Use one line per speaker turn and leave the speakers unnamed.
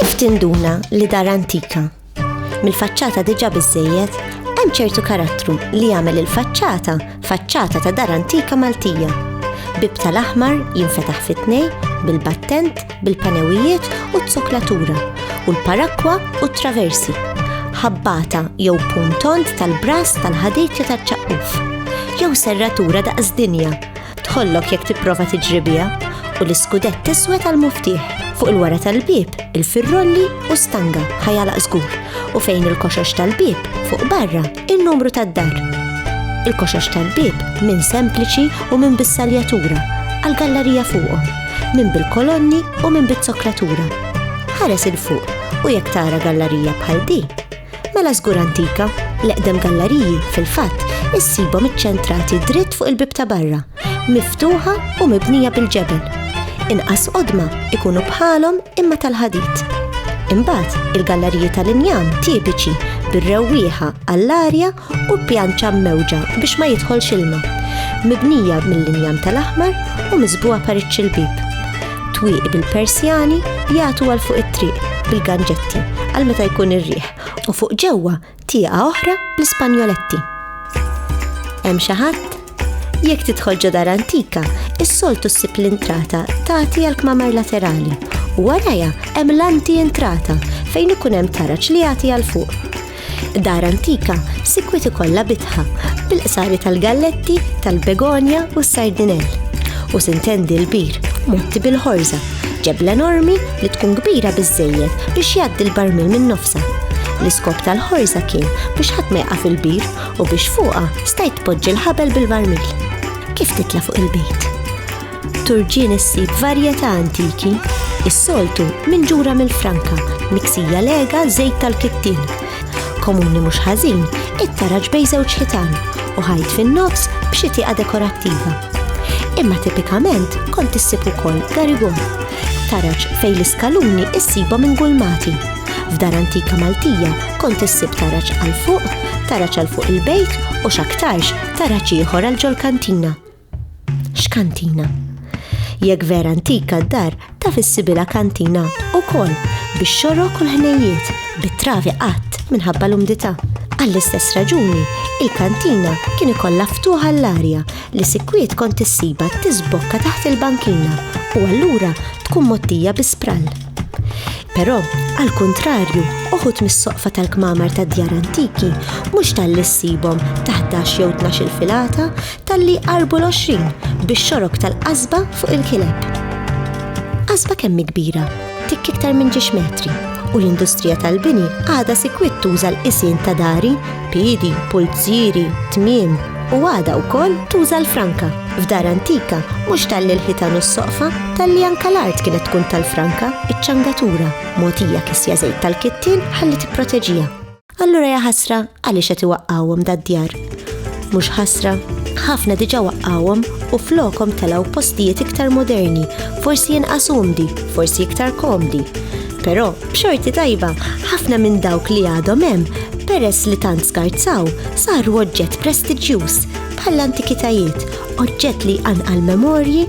Kif tinduna li dar antika? Mill-faċċata diġa biżejjed, hemm ċertu karattru li jagħmel il-faċċata faċċata ta' dar antika Maltija. Bib tal-aħmar jinfetaħ fit-tnej bil-battent bil-panewijiet u t-zoklatura, u l-parakwa u t-traversi, ħabbata jew puntont tal-bras tal-ħaditja taċ-ċaqquf, jew serratura daqs dinja, tħollok jekk tipprova tiġribija, u l-iskudett tiswed tal-muftieħ fuq il-wara tal-bib, il-firrolli u stanga ħajalaq żgur, u fejn il-koxox tal-bib fuq barra In-numru tad-dar. Il-koxox tal-bieb minn sempliċi u minn bis-saljatura għall-gallarija fuqhom, minn bil-kolonni u minn bit-zoklatura. Ħares il-fuq u jekk tara gallarija bħal di, mela żgur antika, l-eqdem gallariji fil-fatt issibhom iċċentrati dritt fuq il-bib ta' barra Miftuħa u mibnija bil-ġebel. Inqas qodma ikunu bħalhom imma tal-ħadid. Imbagħad il-galleriji tal-injam tipiċi bir-rewwieħa għall-arja u pjanċa mewġa biex ma jidħolx ilma. Mibnija mill-injam tal-aħmar u miżbuha pariċċ il-bib. Twieq bil-persjani jagħtu għal fuq it-triq bil-ganġetti għal meta jkun ir-riħ u fuq ġewwa Tieqa oħra bl-Ispanjoletti. Hemm xi ħadd? Jekk tidħol ġo dar antika, is-soltu ssib l-intrata tagħti għal kmamar laterali u warajha hemm l-anti entrata fejn ikun hemm taraġ li jagħti għal fuq. Dar antika sikwit ikollha bitħa bil-qsari tal-galletti, tal-begonja u s-sardinell u sintendi l-bir motti bil-ħorza Ġebla enormi li tkun kbira biżżejjed biex jgħaddi l-barmil minn nofsa. L-iskop tal-ħorża kien biex ħadd ma jaqa' fil-bir u biex fuqha stajt tpoġġi l-ħabel bil-barmil. Kif titla' fuq il-bejt? Turġien issib varjetà antiki, is-soltu minn ġura mill-franka, miksija lega żejt tal-kittin, Komuni mhux ħażin, it-taraġ bejn żewġ ħitan u ħajt fin-nofs b'xi tieqa dekorattiva. Imma tipikament kont issib ukoll garigon, taraġ fejn l-iskaluni issiba minn gulmati. F'dar antika Maltija kont issib taraġ għal fuq, taraġ għal fuq il-bejt u x'aktarx taraġ ieħor għal ġol-kantina. X'kantina? Jekk vera antika d-dar ta' fissibila kantina u kol biex xorok u l-ħnejiet bit-travi qatt minħabba l-umdita. Għall-istess raġuni, il-kantina kien ikollha ftuħa l-arja li sikwiet kont issiba tisbokka taħt il-bankina u allura tkun mottija bi sprall. Però, għal kuntrarju, uħut mis-soqfa tal-kmamar ta' djar antiki mhux tal-lissibhom taħdax jew tnax il-filata Talli qarbu l-20 bix-xorok tal-qasba fuq il-kileb. Qasba kemm kbira, tikk iktar minn ġiex metri, u l-industrija tal-bini għadha sikwit tuża l-qisien ta' dari, piedi, pulzieri, tmiem, u għadha wkoll tuża l-franka. F'dar antika, mhux talli l-ħitan u s-soqfa, talli anka l-art kienet tkun tal-franka, iċ-ċangatura, mogħtija kisja żejt tal-kittin ħalli tipproteġiha. Allura ja ħasra għaliex qed iwaqqgħuhom dad-djar. Mhux ħasra, ħafna diġà waqqgħuhom u flokhom telgħu postijiet iktar moderni, forsi inqas umdi, forsi iktar komdi. Però, b'xorti tajba, ħafna minn dawk li għadhom hemm peress li tant skarzaw, saru oġġett prestiġjuż bħall-antikitajiet, oġġett li anqal memorji